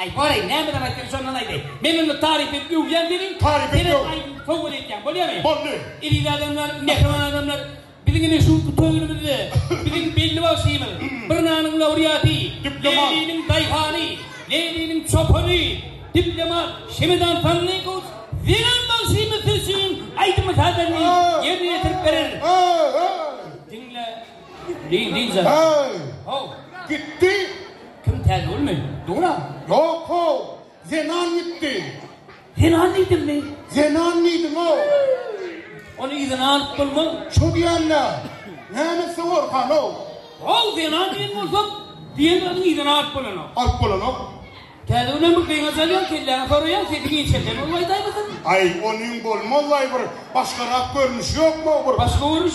Aý, bor-aý, näme zat aýtsaň, şondan aýdaý. Men onda taryp edip öwýän welin, sen hem aýdyp sowgat edýäň, bolýamy? Boldy. Eziz adamlar, mähriban adamlar, biziň indi şu töwrümizde biziň belli bagşymyz, bir nanyň laurýaty, Leýliniň daýhany, Leýliniň çopany, diplomat Şemedan Sanlykow zenan bagşymyz siz üçin aýdymy sazaryny ýerine ýetirip berer. Diňle, Leýli jan. Haw. Gitdi. Kim täze bolmy? Dura? Ýok how. Zenan gitdi. Zenan diýdimmi? Zenan diýdim how. Ony yzyna alyp bolmaz. Şo diýenler. Näme sowar han how. How zenan diýen bolsa diýen zadyň yzyna alyp bolanok. Alyp bolanok. Täze günem bir gyňa salýaň kelläňi soraýaň sesi inçelden bolmaýdaýmysyň. Aý onyň bolmaz aý bir başgarak görnüşi ýokmy how bir. Başga görnüşi.